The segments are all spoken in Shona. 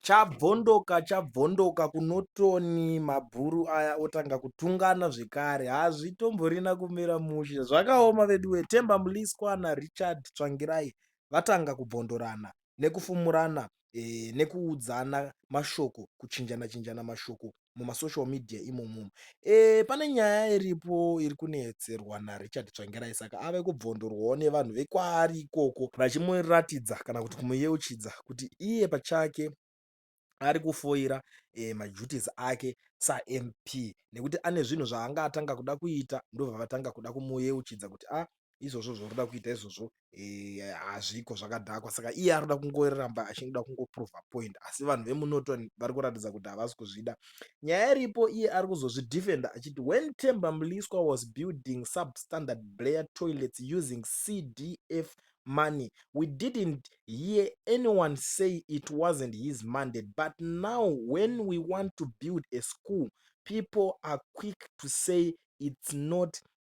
Chabvondoka chabvondoka kunotoni mabhuru aya otanga kutungana zvekare hazvitomborina kumira mushe zvakaoma veduwe Themba Mliswa naRichard Tsvangirai vatanga kubvondorana nekufumurana ee, nekuudzana mashoko kuchinjana chinjana mashoko mumasocial media imomo e, pane nyaya iripo iri kunetserwa narichard tsvangirai saka ave kubvondorwawo nevanhu vekwaari ikoko vachimuratidza kana kuti kumuyeuchidza kuti iye pachake ari kufoira e, maduties ake samp nekuti ane zvinhu zvaanga atanga kuda kuita ndobva vatanga kuda kumuyeuchidza kuti a ah, izvozvo zvauri kuda kuita izvozvo eh, hazviko e, zvakadhakwa saka iye ari kuda kungoramba achingida kungoprova point asi vanhu vemunoton vari kuratidza kuti havasi kuzvida nyaya iripo iye ari kuzozvidefenda achiti when temba mliswa was building substandard blair toilets using cdf money we didn't hear anyone say it wasn't his mandate but now when we want to build a school people are quick to say it's not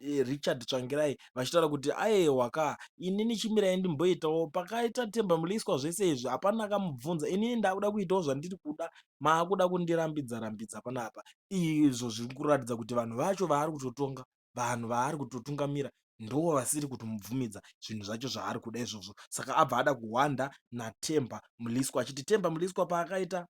Richard Tsvangirai vachitaura kuti aewa ka inini chimirai ndimboitawo pakaita Themba Mliswa zvese izvi hapana akamubvunza inini ndakuda kuitawo zvandiri kuda maakuda kundirambidza rambidza panapa izvo zviri kuratidza kuti vanhu vacho vaari kutotonga vanhu vaari kutotungamira ndo vasiri kutomubvumidza zvinhu zvacho zvaari kuda izvozvo saka abva ada kuhwanda naThemba Mliswa achiti Themba Mliswa paakaita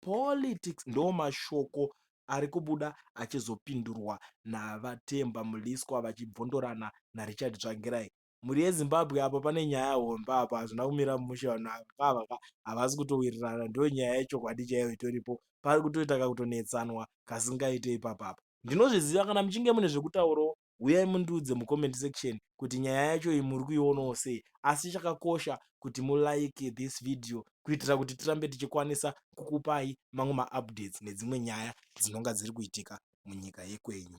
Politics ndomashoko ari kubuda achizopindurwa naVaTemba Mliswa vachibvondorana naRichard Tsvangirai. Mhuri yeZimbabwe apa pane nyaya hombe apa hazvina kumira mushe vanhu ava ka havasi kutowirirana ndonyaya yechokwadi chaiyo itoripo pari kutoita kakutonetsanwa kasingaite ipapa apa. Ndinozviziva kana muchinge mune zvekutaurawo huyai mundiudze mucomment section kuti nyaya yacho iyi muri kuionawo sei asi chakakosha kuti mulike this video kuitira kuti tirambe tichikwanisa kukupai mamwe maupdates nedzimwe nyaya dzinonga dziri kuitika munyika yekwenyu